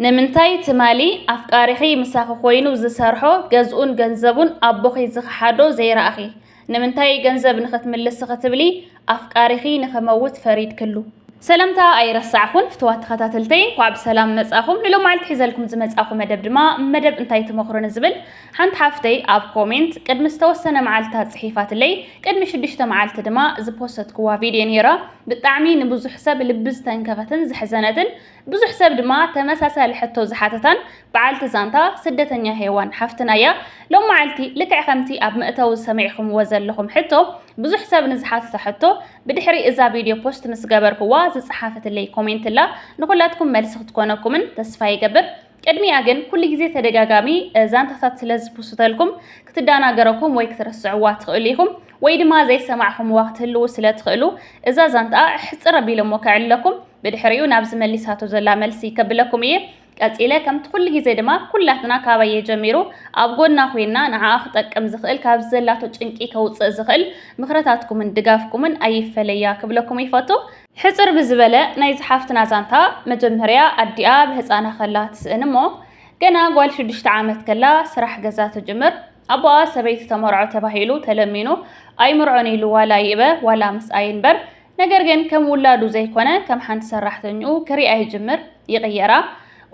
ንምንታይ ትማሊ ኣፍቃሪኺ ምሳኺ ኮይኑ ዝሰርሖ ገዝኡን ገንዘቡን ኣቦኺ ዝኸሓዶ ዘይረኣኺ? ንምንታይ ገንዘብ ንኽትምልሲ ክትብሊ ኣፍቃሪኺ ንኽመውት ፈሪድክሉ? ሰላምታ ኣይረሳዕኹን ፍትዋት ተኸታተልተይ እንኳዕ ብሰላም መፃእኹም ንሎማዓልቲ ሒዘልኩም ዝመፃእኹ መደብ ድማ መደብ እንታይ ትመኽሩኒ ዝብል ሓንቲ ሓፍተይ ኣብ ኮሜንት ቅድሚ ዝተወሰነ መዓልታት ፅሒፋትለይ ቅድሚ ሽዱሽተ መዓልቲ ድማ ዝፖሰትኩዋ ቪድዮ ነይራ ብጣዕሚ ንብዙሕ ሰብ ልቢ ዝተንከፈትን ዘሕዘነትን ብዙሕ ሰብ ድማ ተመሳሳሊ ሕቶ ዝሓተታን በዓልቲ ዛንታ ስደተኛ ሄዋን ሓፍትና እያ። ሎማዓልቲ ልክዕ ከምቲ ኣብ መእተዊ ሰሚዕኹምዎ ዘለኹም ሕቶ ብዙሕ ሰብ ንዝሓተቶ ሕቶ ብድሕሪ እዛ ቪድዮ ፖስት ምስ ገበርኩዋ ዝጸሓፈትለይ ኮሜንት እላ ንኹላትኩም መልሲ ክትኮነኩምን ተስፋ ይገብር። ቅድሚኣ ግን ኩሉ ግዜ ተደጋጋሚ ዛንታታት ስለ ዝፕሱተልኩም ክትዳናገረኩም ወይ ክትረስዕዋ ትኽእሉ ኢኹም ወይ ድማ ዘይሰማዕኹምዋ ክትህልዉ ስለ ትኽእሉ እዛ ዛንታኣ ሕጽር ኣቢለሞ ከዕለኩም ብድሕሪኡ ናብ ዝመሊሳቶ ዘላ መልሲ ከብለኩም እየ ቀጺለ ከምቲ ኩሉ ግዜ ድማ ኩላትና ካባየ ጀሚሩ ኣብ ጎና ኮይና ንዓኣ ክጠቅም ዝኽእል ካብዚ ዘላቶ ጭንቂ ከውጽእ ዝኽእል ምኽርታትኩምን ድጋፍኩምን ኣይፈለያ ክብለኩም ይፈቱ ሕጽር ብዝበለ ናይዚ ሓፍትና ዛንታ መጀመርያ ኣዲኣ ብህጻና ከላ ትስእን እሞ ገና ጓል ሽዱሽተ ዓመት ከላ ስራሕ ገዛ ትጅምር ኣቦኣ ሰበይቲ ተመርዖ ተባሂሉ ተለሚኑ ኣይምርዖን ኢሉ ዋላ ይእበ ዋላ ምስኣ ይንበር ነገር ግን ከም ውላዱ ዘይኮነ ከም ሓንቲ ሰራሕተኝኡ ክሪኣ ይጅምር ይቕየራ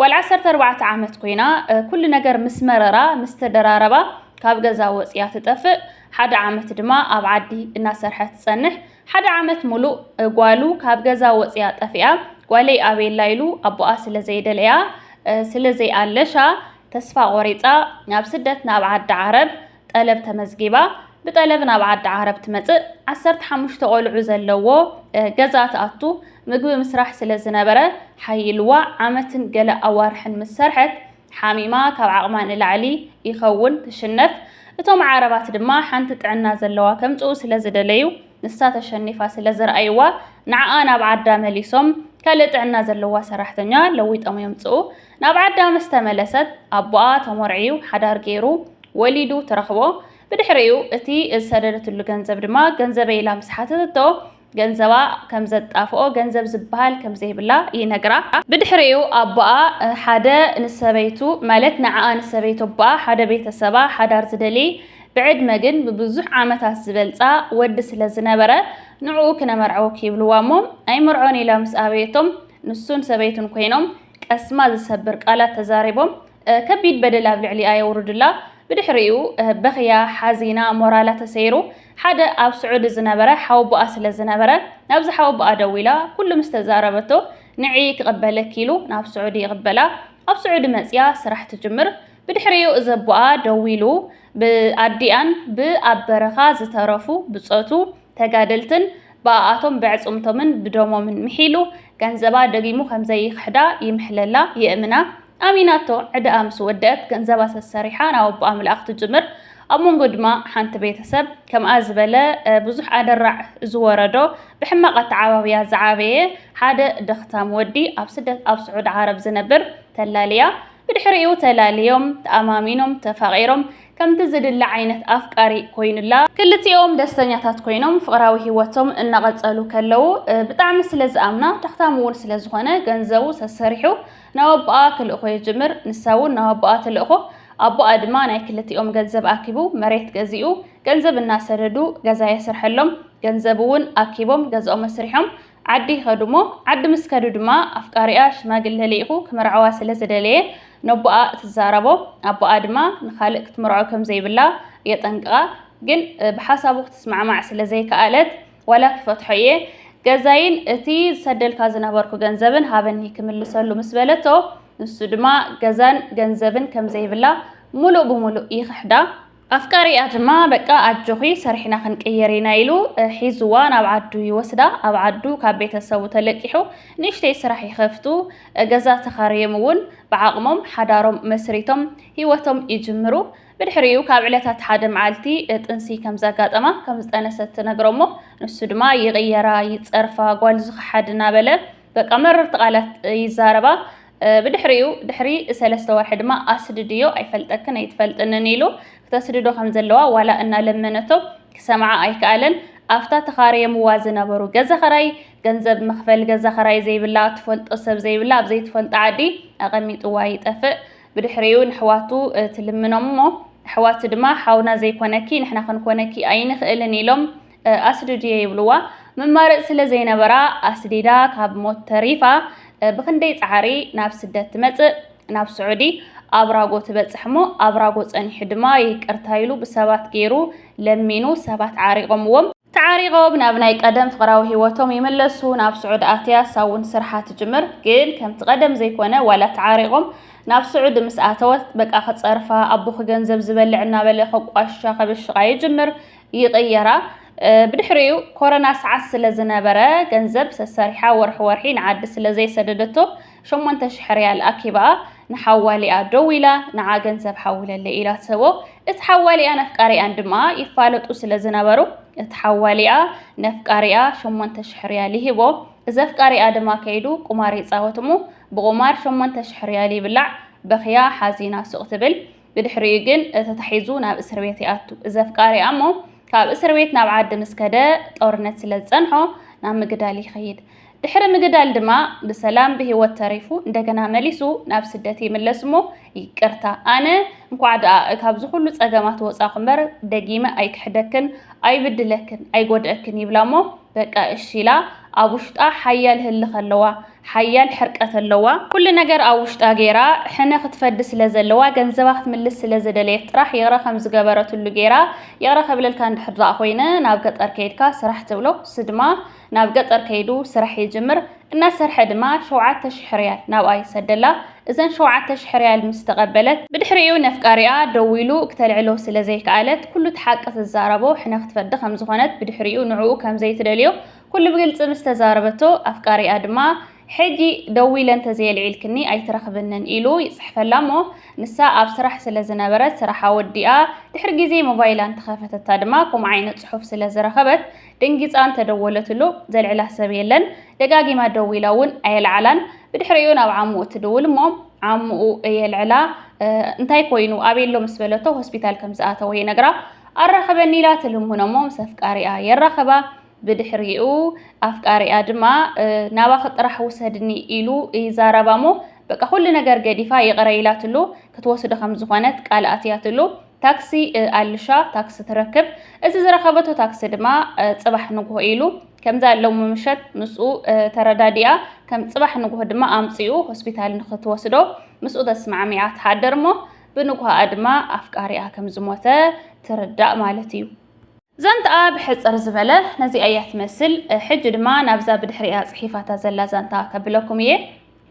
ጓል ዓሰርተ ኣርባዕተ ዓመት ኮይና ኩሉ ነገር ምስ መረራ ምስ ተደራረባ ካብ ገዛ ወጽያ ትጠፍእ ሓደ ዓመት ድማ ኣብ ዓዲ እናሰርሐት ትጸንሕ ሓደ ዓመት ሙሉእ ጓሉ ካብ ገዛ ወፅያ ጠፊኣ ጓለይ ኣበየላ ኢሉ ኣቦኣ ስለዘይደለያ ስለዘይኣለሻ ተስፋ ቆሪፃ ናብ ስደት ናብ ዓዲ ዓረብ ጠለብ ተመዝጊባ ብጠለብ ናብ ዓዲ ዓረብ ትመፅእ ዓሰርተ ሓሙሽተ ቆልዑ ዘለዎ ገዛ ትኣቱ ምግቢ ምስራሕ ስለዝነበረ ሓይልዋ ዓመትን ገለ ኣዋርሕን ምስ ሰርሐት ሓሚማ ካብ ዓቕማ ንላዕሊ ይኸውን ትሽነፍ፣ እቶም ዓረባት ድማ ሓንቲ ጥዕና ዘለዋ ከምጽኡ ስለ ዝደለዩ ንሳ ተሸኒፋ ስለ ዝርኣይዋ ንዓኣ ናብ ዓዳ መሊሶም ካልእ ጥዕና ዘለዋ ሰራሕተኛ ለዊጦም የምጽኡ። ናብ ዓዳ ምስ ተመለሰት ኣቦኣ ተሞርዕዩ ሓዳር ገይሩ ወሊዱ ትረኽቦ። ብድሕሪኡ እቲ ዝሰደደትሉ ገንዘብ ድማ ገንዘበይ ኢላ ምስ ሓተተቶ ገንዘባ ከም ዘጣፍኦ ገንዘብ ዝበሃል ከም ዘይብላ ይነግራ። ብድሕሪኡ ኣቦኣ ሓደ ንሰበይቱ ማለት ንዓኣ ንሰበይቱ ኣቦኣ ሓደ ቤተሰባ ሓዳር ዝደልይ ብዕድመ ግን ብብዙሕ ዓመታት ዝበልጻ ወዲ ስለ ዝነበረ ንዕኡ ክነመርዐውኪ ይብልዋ እሞ ኣይምርዖን ኢላ ምስ ኣበየቶም ንሱን ሰበይቱን ኮይኖም ቀስማ ዝሰብር ቃላት ተዛሪቦም ከቢድ በደል ኣብ ልዕሊኣ የውርዱላ። ብድሕሪኡ በኽያ፣ ሓዚና፣ ሞራላ ተሰይሩ። ሓደ ኣብ ስዑዲ ዝነበረ ሓወቦኣ ስለ ዝነበረ፣ ናብዚ ሓወቦኣ ደዊላ ኩሉ ምስ ተዛረበቶ፣ ንዒ ክቕበለኪ ኢሉ ናብ ስዑዲ ይቕበላ። ኣብ ስዑዲ መጺኣ ስራሕ ትጅምር። ብድሕሪኡ እዚ ኣቦኣ ደዊሉ ብኣዲኣን ብኣብ በረኻ ዝተረፉ ብጾቱ ተጋደልትን ብኣኣቶም ብዕጽምቶምን ብደሞምን ምሒሉ ገንዘባ ደጊሙ ከምዘይኽሕዳ ይምሕለላ የእምና ኣሚናቶ ዕዳኣ ምስ ወደእት ገንዘባ ሰሰሪሓ ናብ ኣቦኣ ምልኣኽ ትጅምር ኣብ መንጎ ድማ ሓንቲ ቤተሰብ ከምኣ ዝበለ ብዙሕ ኣደራዕ ዝወረዶ ብሕማቕ ኣተዓባብያ ዝዓበየ ሓደ ደኽታም ወዲ ኣብ ስደት ኣብ ስዑድ ዓረብ ዝነብር ተላልያ ብድሕሪኡ ተላልዮም ተኣማሚኖም ተፋቒሮም ከምቲ ዝድለ ዓይነት ኣፍቃሪ ኮይኑላ። ክልቲኦም ደስተኛታት ኮይኖም ፍቕራዊ ህይወቶም እናቐጸሉ ከለዉ፣ ብጣዕሚ ስለ ዝኣምና፣ ተኽታም እውን ስለ ዝኾነ ገንዘቡ ሰሰሪሑ ናብ ኣቦኣ ክልእኮ ይጅምር። ንሳ እውን ናብ ኣቦኣ ትልእኮ። ኣቦኣ ድማ ናይ ክልቲኦም ገንዘብ ኣኪቡ መሬት ገዚኡ፣ ገንዘብ እናሰደዱ ገዛ የስርሐሎም። ገንዘብ እውን ኣኪቦም ገዝኦም ኣስሪሖም። ዓዲ ይኸዱ'ሞ፣ ዓዲ ምስ ከዱ ድማ ኣፍቃሪኣ ሽማግለ ልኢኹ ክምርዓዋ ስለ ዝደለየ ነቦኣ ትዛረቦ፣ ኣቦኣ ድማ ንኻልእ ክትምርዖ ከም ዘይብላ የጠንቅቓ፣ ግን ብሓሳቡ ክትስማዕማዕ ስለ ዘይከኣለት ዋላ ክፈትሖ እየ፣ ገዛይን እቲ ዝሰደልካ ዝነበርኩ ገንዘብን ሃበኒ ክምልሰሉ ምስ በለቶ፣ ንሱ ድማ ገዛን ገንዘብን ከም ዘይብላ ምሉእ ብምሉእ ይኽሕዳ። ኣፍቃሪኣ ድማ በቃ ኣጆኺ ሰሪሕና ክንቅይር ኢና ኢሉ ሒዙዋ ናብ ዓዱ ይወስዳ። ኣብ ዓዱ ካብ ቤተሰቡ ተለቂሑ ንእሽተይ ስራሕ ይኸፍቱ። ገዛ ተኻርዮም እውን ብዓቕሞም ሓዳሮም መስሪቶም ህይወቶም ይጅምሩ። ብድሕሪኡ ካብ ዕለታት ሓደ መዓልቲ ጥንሲ ከም ዘጋጠማ ከም ዝጠነሰት ትነግሮ'ሞ ንሱ ድማ ይቕየራ ይጸርፋ ጓል ዝኸሓድ እናበለ በቃ መረርቲ ቃላት ይዛረባ። ብድሕሪኡ ድሕሪ ሰለስተ ወርሒ ድማ ኣስድድዮ ኣይፈልጠክን ኣይትፈልጥንን ኢሉ ክተስድዶ ከም ዘለዋ ዋላ እናለመነቶ ክሰምዓ ኣይከኣለን። ኣብታ ተኻርየምዋ ዝነበሩ ገዛ ኸራይ ገንዘብ መኽፈል ገዛ ኸራይ ዘይብላ ትፈልጦ ሰብ ዘይብላ ኣብ ዘይትፈልጦ ዓዲ ኣቐሚጥዋ ይጠፍእ። ብድሕሪኡ ንሕዋቱ ትልምኖም እሞ ኣሕዋቱ ድማ ሓውና ዘይኮነኪ ንሕና ክንኮነኪ ኣይንኽእልን ኢሎም ኣስዲ ድየ ይብልዋ መማረፂ ስለ ዘይነበራ ኣስዲዳ ካብ ሞት ተሪፋ ብኽንደይ ፃዕሪ ናብ ስደት ትመፅእ ናብ ስዑዲ ኣብራጎ ትበፅሕ እሞ ኣብራጎ ፀኒሑ ድማ ይቅርታ ኢሉ ብሰባት ገይሩ ለሚኑ ሰባት ዓሪቆምዎም ተዓሪቆም ናብ ናይ ቀደም ፍቅራዊ ሂወቶም ይምለሱ ናብ ስዑዲ ኣትያ ሳውን ስርሓ ትጅምር ግን ከምቲ ቀደም ዘይኮነ ዋላ ተዓሪቆም ናብ ስዑዲ ምስ ኣተወት በቃ ክፀርፋ ኣቦኺ ገንዘብ ዝበልዕ እናበለ ከቋሽሻ ከብሽቃ ይጅምር ይቕየራ። ብድሕሪኡ ኮረና ሰዓት ስለ ዝነበረ ገንዘብ ሰሰሪሓ ወርሒ ወርሒ ንዓዲ ስለ ዘይሰደደቶ ሸሞንተ ሽሕ ሪያል ኣኪባ ንሓዋሊኣ ደዊላ ንዓ ገንዘብ ሓውለለይ ኢላ ትህቦ። እቲ ሓዋሊኣን ኣፍቃሪኣን ድማ ይፋለጡ ስለ ዝነበሩ እቲ ሓዋሊኣ ነፍቃሪኣ ሸሞንተ ሽሕ ሪያል ይህቦ። እዚ ኣፍቃሪኣ ድማ ከይዱ ቁማር ይጻወት እሞ ብቑማር ሸሞንተ ሽሕ ሪያል ይብላዕ። በኽያ ሓዚና ሱቕ ትብል። ብድሕሪኡ ግን ተታሒዙ ናብ እስር ቤት ይኣቱ። እዚ ኣፍቃሪኣ እሞ ካብ እስር ቤት ናብ ዓዲ ምስ ከደ ጦርነት ስለ ዝጸንሖ ናብ ምግዳል ይኸይድ። ድሕሪ ምግዳል ድማ ብሰላም ብህይወት ተሪፉ እንደገና መሊሱ ናብ ስደት ይምለስ እሞ ይቅርታ ኣነ እንኳዕ ደኣ ካብዚ ኩሉ ጸገማት ወጻኹ እምበር ደጊመ ኣይክሕደክን ኣይብድለክን ኣይጎድኣክን ይብላ እሞ በቃ እሺ ኢላ ኣብ ውሽጣ ሓያል ህልኽ ኣለዋ። ሓያል ሕርቀት ኣለዋ ኩሉ ነገር ኣብ ውሽጣ ጌራ ሕነ ክትፈዲ ስለ ዘለዋ ገንዘባ ክትምልስ ስለ ዝደለየት ጥራሕ ይቅረ ከም ዝገበረትሉ ጌራ ይቅረ ክብለልካ እንድሕር ድኣ ኮይነ ናብ ገጠር ከይድካ ስራሕ ትብሎ ንሱ ድማ ናብ ገጠር ከይዱ ስራሕ ይጅምር እናሰርሐ ድማ ሸውዓተ ሽሕ ርያል ናብኣ ይሰደላ እዘን ሸውዓተ ሽሕ ርያል ምስ ተቀበለት ብድሕሪኡ ነፍቃሪኣ ደዊሉ ክተልዕሎ ስለ ዘይከኣለት ኩሉ እቲ ሓቂ ትዛረቦ ሕነ ክትፈዲ ከም ዝኮነት ብድሕሪኡ ንዕኡ ከም ዘይትደልዮ ኩሉ ብግልጺ ምስ ተዛረበቶ፣ ኣፍቃሪኣ ድማ ሕጂ ደዊለ እንተዘየልዒልክኒ ኣይትረኽብንን ኢሉ ይጽሕፈላ እሞ ንሳ ኣብ ስራሕ ስለ ዝነበረት ስራሓ ወዲኣ ድሕሪ ግዜ ሞባይላ እንተኸፈተታ ድማ ከምኡ ዓይነት ጽሑፍ ስለ ዝረኸበት ደንጊጻ እንተደወለትሉ ዘልዕላ ሰብ የለን ደጋጊማ ደዊላ እውን ኣየልዓላን ብድሕሪኡ ናብ ዓምኡ ትድውል እሞ ዓምኡ የልዕላ እንታይ ኮይኑ ኣቤሎ ምስ በለቶ ሆስፒታል ከም ዝኣተወ ይነግራ ኣራኸበኒ ኢላ ትልምኖ እሞ ምስ ኣፍቃሪኣ የራኸባ ብድሕሪኡ ኣፍቃሪኣ ድማ ናባኺ ጥራሕ ውሰድኒ ኢሉ ይዛረባሞ በቃ ኩሉ ነገር ገዲፋ ይቕረ ኢላትሉ ክትወስዶ ከም ዝኾነት ቃል ኣትያትሉ ታክሲ ኣልሻ ታክሲ ትረክብ እዚ ዝረኸበቶ ታክሲ ድማ ጽባሕ ንግሆ ኢሉ ከምዛ ሎሚ ምሸት ምስኡ ተረዳዲኣ ከም ጽባሕ ንግሆ ድማ ኣምጺኡ ሆስፒታል ንክትወስዶ ምስኡ ተስማዕሚዓ ትሓድር እሞ ብንግሆኣ ድማ ኣፍቃሪኣ ከም ዝሞተ ትርዳእ ማለት እዩ ዛንትኣ ብሕጽር ዝበለ ነዚኣ እያ ትመስል። ሕጂ ድማ ናብዛ ብድሕሪኣ ጽሒፋታ ዘላ ዛንታ ከብለኩም እየ።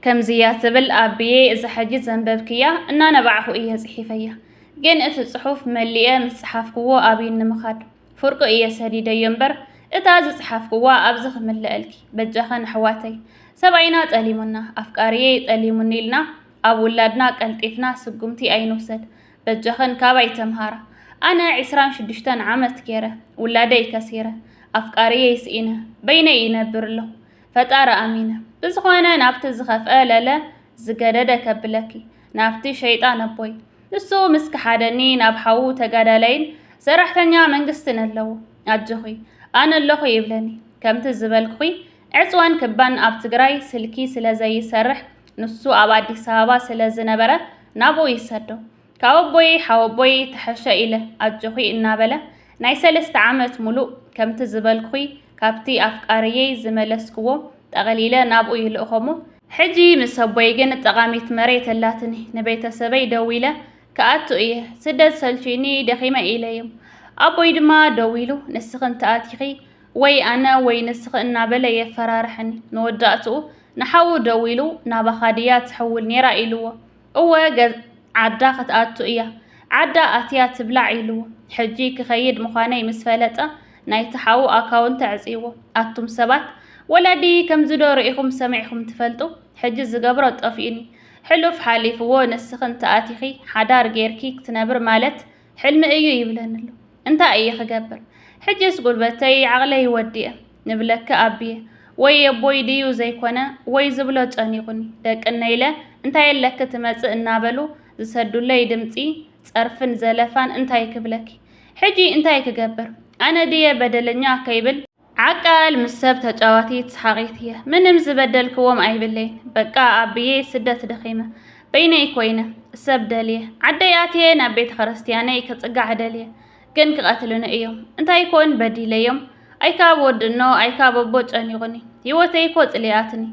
ከምዚ እያ ትብል፣ ኣቢየ እዛ ሕጂ ዘንበብክያ እናነባዕኹ እየ ጽሒፈያ። ግን እቲ ጽሑፍ መሊኤ ምስ ጸሓፍክዎ ኣብይ ንምኻድ ፍርቁ እየ ሰዲደዮ እምበር እታ ዝጸሓፍክዋ ኣብዚ ክምለኣልኪ። በጃኸን ኣሕዋተይ ሰብኣይና ጠሊሙና፣ ኣፍቃሪየይ ጠሊሙኒ ኢልና ኣብ ውላድና ቀልጢፍና ስጉምቲ ኣይንውሰድ። በጃኽን ካባይ ተምሃራ ኣነ ዕስራን ሽዱሽተን ዓመት ጌረ ውላደይ ከሲረ ኣፍቃርየይ ስኢነ በይነይ ይነብር ኣለኹ ፈጣሪ ኣሚነ ብዝኾነ ናብቲ ዝኸፍአ ለለ ዝገደደ ከብለኪ ናብቲ ሸይጣን ኣቦይ ንሱ ምስ ክሓደኒ ናብ ሓዉ ተጋዳላይን ሰራሕተኛ መንግስትን ኣለዎ ኣጆኺ ኣነ ኣለኹ ይብለኒ ከምቲ ዝበልኩኺ ዕፅዋን ክባን ኣብ ትግራይ ስልኪ ስለ ዘይሰርሕ ንሱ ኣብ ኣዲስ ኣበባ ስለ ዝነበረ ናብኡ ይሰዶ። ካብ ኣቦየይ ሓወቦየይ ተሐሸ ኢለ ኣጆኺ እናበለ ናይ ሰለስተ ዓመት ሙሉእ ከምቲ ዝበልኩኺ ካብቲ ኣፍቃሪየይ ዝመለስክዎ ጠቕሊለ ናብኡ ይልእኾሞ። ሕጂ ምስ ኣቦይ ግን ጠቓሚት መሬት ኣላትኒ ንቤተሰበይ ደዊለ ክኣቱ እየ ስደት ሰልችዩኒ ደኺመ ኢለዮም። ኣቦይ ድማ ደዊሉ ንስኽን ተኣቲኺ ወይ ኣነ ወይ ንስኺ እናበለ የፈራርሐኒ። መወዳእትኡ ንሓዉ ደዊሉ ናባኻ ድያ ትሕውል ኔራ ኢልዎ። እወ ገዝ ዓዳ ክትኣቱ እያ። ዓዳ ኣትያ ትብላዕ ኢልዎ። ሕጂ ክኸይድ ምዃነይ ምስ ፈለጠ ናይቲ ሓዉ ኣካውንት ኣዕጽይዎ። ኣቱም ሰባት ወላዲ ከምዚ ዶ ርኢኹም ሰሚዕኩም ትፈልጡ? ሕጂ ዝገብሮ ጠፊኡኒ። ሕሉፍ ሓሊፍዎ ንስኺ እንተኣቲኺ ሓዳር ጌርኪ ክትነብሪ ማለት ሕልሚ እዩ ይብለኒ ኣሎ እንታይ እየ ክገብር ሕጅስ ጉልበተይ ዓቅለይ ወዲኤ ንብለኪ ኣቢየ ወይ ኣቦይ ድዩ ዘይኮነ ወይ ዝብሎ ጨኒቁኒ ደቅነይ ኢለ እንታይ ኣለኪ ትመፅእ እናበሉ ዝሰዱለይ ድምፂ ፀርፍን ዘለፋን እንታይ ክብለኪ ሕጂ እንታይ ክገብር ኣነ ድየ በደለኛ ከይብል ዓቃል ምስ ሰብ ተጫዋቲት ሰሓቂት እየ ምንም ዝበደልክዎም ኣይብለይን በቃ ኣብየ ስደት ደኺመ በይነይ ኮይነ ሰብ ደልየ ዓደይ ኣትየ ናብ ቤተ ክርስትያነይ ክፅጋዕ ደልየ ግን ክቀትልኒ እዮም እንታይ ኮን በዲለዮም ኣይካብ ወዲ እኖ ኣይካብ ኣቦ ጨኒቁኒ ሂወተይ እኮ ፅሊኣትኒ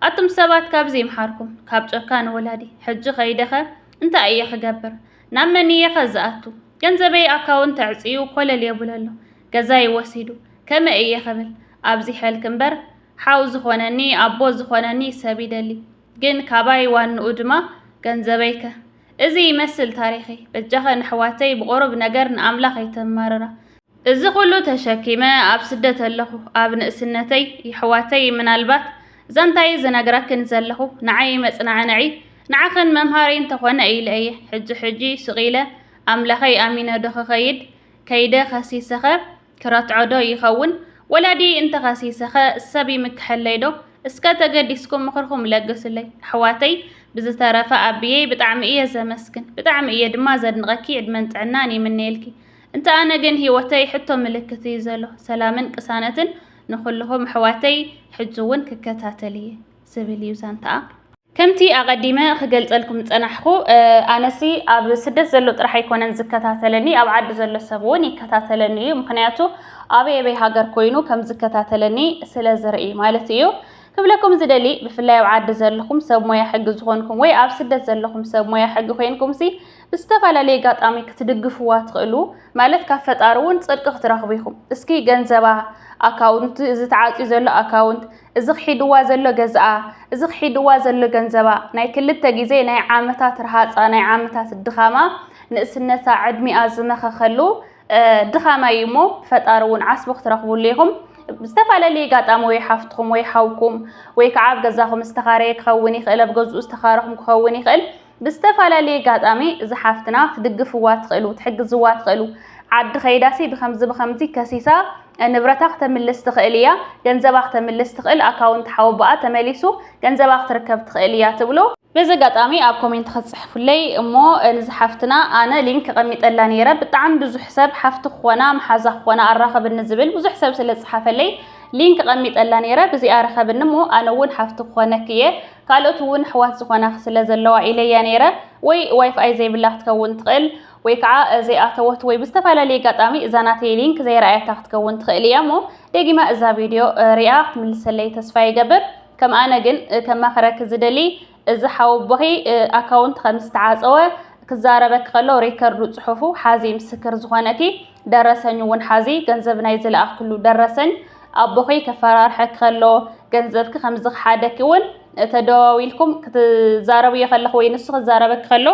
ኣቱም ሰባት ካብዚ ይምሓርኩም ካብ ጨካን ወላዲ ሕጂ ከይደኸ እንታይ እየ ክገብር ናብ መን እየኸ ዝኣቱ ገንዘበይ ኣካውንት ተዕፅዩ ኮለል የቡለ ኣሎ ገዛይ ወሲዱ ከመይ እየ ክብል ኣብዚ ሐልክ እምበር ሓው ዝኾነኒ ኣቦ ዝኾነኒ ሰብ ይደሊ ግን ካባይ ዋንኡ ድማ ገንዘበይ ከ እዚ ይመስል ታሪኸይ በጃኸን ኣሕዋተይ ብቑሩብ ነገር ንኣምላኽ ኣይተማርራ እዚ ኩሉ ተሸኪመ ኣብ ስደት ኣለኹ ኣብ ንእስነተይ ይሕዋተይ ምናልባት ዛንታይ ዝነግረክን ዘለኹ ንዓይ መጽናዕንዒ ንዓኽን መምሃሪ እንተኾነ ኢለ እየ ሕጂ ሕጂ ስቅ ኢለ ኣምላኸይ ኣሚነ ዶ ክኸይድ ከይደ ከሲሰኸ ክረትዖ ዶ ይኸውን ወላዲየይ እንተኸሲሰኸ ሰብ ይምክሐለይ ዶ እስከ ተገዲስኩም ምኽርኹም ለግሱለይ ኣሕዋተይ ብዝተረፈ ኣቢየይ ብጣዕሚ እየ ዘመስግን ብጣዕሚ እየ ድማ ዘድንቀኪ ዕድመን ጥዕናን ይምነየልኪ እንተ ኣነ ግን ሂወተይ ሕቶ ምልክት እዩ ዘሎ ሰላምን ቅሳነትን ንኹልኹም ኣሕዋተይ ሕጂ እውን ክከታተል እየ ዝብል እዩ ዛንታኣ። ከምቲ ኣቐዲመ ክገልጸልኩም ዝጸናሕኩ ኣነሲ ኣብ ስደት ዘሎ ጥራሕ ኣይኮነን ዝከታተለኒ ኣብ ዓዲ ዘሎ ሰብ እውን ይከታተለኒ እዩ ምክንያቱ ኣበይ ኣበይ ሃገር ኮይኑ ከም ዝከታተለኒ ስለ ዝርኢ ማለት እዩ ክብለኩም ዝደሊ ብፍላይ ኣብ ዓዲ ዘለኹም ሰብ ሞያ ሕጊ ዝኾንኩም ወይ ኣብ ስደት ዘለኹም ሰብ ሞያ ሕጊ ኮንኩምሲ ብዝተፈላለየ ኣጋጣሚ ክትድግፍዋ ትኽእሉ ማለት ካብ ፈጣሪ እውን ፅድቂ ክትረኽቡ ኢኹም። እስኪ ገንዘባ፣ ኣካውንት፣ እዚ ተዓፅዩ ዘሎ ኣካውንት፣ እዚ ክሒድዋ ዘሎ ገዝኣ፣ እዚ ክሒድዋ ዘሎ ገንዘባ፣ ናይ ክልተ ግዜ ናይ ዓመታት ረሃፃ፣ ናይ ዓመታት ድኻማ፣ ንእስነታ፣ ዕድሚኣ ዝመኸኸሉ ድኻማ እዩ እሞ ፈጣሪ እውን ዓስቡ ክትረኽቡሉ ኢኹም። ዝተፈላለየ ኣጋጣሚ ወይ ሓፍትኹም ወይ ሓውኩም ወይ ከዓ ኣብ ገዛኹም ዝተኻረየ ክኸውን ይኽእል፣ ኣብ ገዝኡ ዝተኻረኹም ክኸውን ይኽእል። ብዝተፈላለየ ኣጋጣሚ እዛ ሓፍትና ክትድግፍዋ ትኽእሉ፣ ክትሕግዝዋ ትኽእሉ። ዓዲ ከይዳሲ ብከምዚ ብከምዚ ከሲሳ ንብረታ ክተምልስ ትኽእል ኢያ፣ ገንዘባ ክተምልስ ትኽእል፣ ኣካውንት ሓወቦኣ ተመሊሱ ገንዘባ ክትርከብ ትኽእል ኢያ ትብሉ። በዚ ኣጋጣሚ ኣብ ኮሜንት ክትጽሕፉለይ እሞ ንዛ ሓፍትና ኣነ ሊንክ ኣቐሚጠላ ነይረ። ብጣዕሚ ብዙሕ ሰብ ሓፍቲ ክኾና መሓዛ ክኾና ኣራኽብኒ ዝብል ብዙሕ ሰብ ስለ ዝጸሓፈለይ ሊንክ ኣቐሚጠላ ነይረ። ብዚኣ ርኸብኒ እሞ ኣነ እውን ሓፍቲ ክኾነኪ ኢየ። ካልኦት እውን ኣሕዋት ዝኾናኺ ስለ ዘለዋ ኢለ እያ ነይረ። ወይ ዋይፍኣይ ዘይብላ ክትከውን ትኽእል፣ ወይ ከዓ ዘይኣተወት ወይ ብዝተፈላለየ ኣጋጣሚ እዛ ናተይ ሊንክ ዘይረኣየታ ክትከውን ትኽእል እያ እሞ ደጊማ እዛ ቪድዮ ሪኣ ክትምልሰለይ ተስፋ ይገብር። ከም ኣነ ግን ከማኽረኪ ዝደሊ እዚ ሓወቦኺ ኣካውንት ከም ዝተዓፀወ ክዛረበኪ ከሎ ሬከርዱ ጽሑፉ ሓዚ ምስክር ዝኾነኪ ደረሰኝ እውን ሓዚ ገንዘብ ናይ ዝለኣኽሉ ደረሰኝ ኣቦኺ ከፈራርሐኪ ከሎ ገንዘብኪ ከም ዝኸሓደኪ እውን ተደዋዊልኩም ክትዛረብዮ ከለኹ ወይ ንሱ ክዛረበኪ ከሎ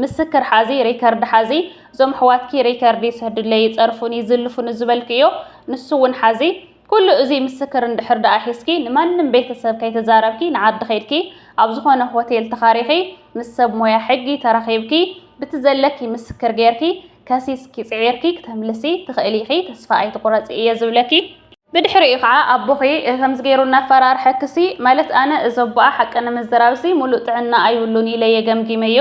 ምስክር ሓዚ ሬከርድ ሓዚ እዞም ኣሕዋትኪ ሬከርድ ይስሕዱለይ ይጸርፉን ይዝልፉን ዝበልክዮ ንሱ እውን ሓዚ ኩሉ እዚ ምስክር እንድሕር ደኣ ሒዝኪ ንማንም ቤተሰብ ከይተዛረብኪ ንዓዲ ከይድኪ ኣብ ዝኾነ ሆቴል ተኻሪኺ ምስ ሰብ ሞያ ሕጊ ተራኺብኪ ብቲ ዘለኪ ምስክር ጌርኪ ከሲስኪ ጽዒርኪ ክተምልሲ ትኽእሊ ኢኺ ተስፋ ኣይትቑረጺ እየ ዝብለኪ። ብድሕሪኡ ከዓ ኣቦኺ ከምዚ ገይሩ እናፈራርሐክሲ ማለት ኣነ እዚ ኣቦኣ ሓቂ ንምዝራብሲ ሙሉእ ጥዕና ኣይብሉን ኢለየ ገምጊመዮ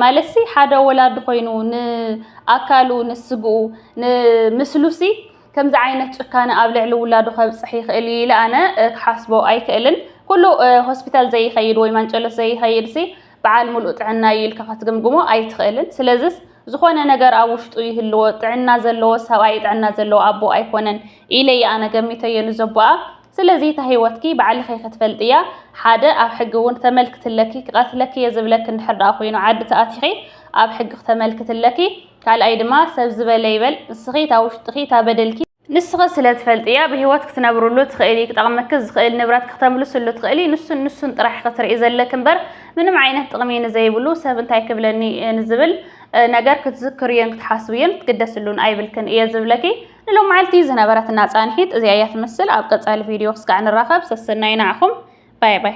ማለትሲ ሓደ ወላዲ ኮይኑ ንኣካሉ ንስግኡ ንምስሉሲ ከምዚ ዓይነት ጭካነ ኣብ ልዕሊ ውላዱ ከብጽሕ ይኽእል እዩ ኢለ ኣነ ክሓስቦ ኣይክእልን። ኩሉ ሆስፒታል ዘይኸይድ ወይ ማንጨሎት ዘይኸይድሲ በዓል ምሉእ ጥዕና እዩ ኢልካ ከትግምግሞ ኣይትኽእልን። ስለዝስ ዝኾነ ነገር ኣብ ውሽጡ ይህልዎ፣ ጥዕና ዘለዎ ሰብኣይ ጥዕና ዘለዎ ኣቦ ኣይኮነን ኢለ እየ ኣነ ገሚተዮ ንዘቦኣ። ስለዚ እታ ሂወትኪ ባዕልኺ ኢኺ ትፈልጥያ ሓደ ኣብ ሕጊ ውን ክተመልክቲ ኣለኪ ክቀትለኪ እየ ዝብለኪ እንድሕር ደኣ ኮይኑ ዓዲ ተኣቲኺ ኣብ ሕጊ ክተመልክቲ ኣለኪ ካልኣይ ድማ ሰብ ዝበለ ይበል ንስኺ እታ ውሽጥኺ እታ በደልኪ ንስኺ ስለ ትፈልጥያ ብሂወት ክትነብርሉ ትኽእሊ ክጠቅመኪ ዝኽእል ንብረትኪ ክተምልስሉ ትኽእሊ ንሱን ንሱን ጥራሕ ኢኺ ትርኢ ዘለኪ እምበር ምንም ዓይነት ጥቅሚ ንዘይብሉ ሰብ እንታይ ክብለኒ ንዝብል ነገር ክትዝክርዮን ክትሓስብዮን ክትግደስሉን ኣይብልክን እየ ዝብለኪ ንሎማዓልቲ ዝነበረትና ፃንሒት እዚኣ እያ ትመስል ኣብ ቀፃሊ ቪድዮ ክስካዕ ንራኸብ ሰሰናዩ ንዓኹም ባይ ባይ።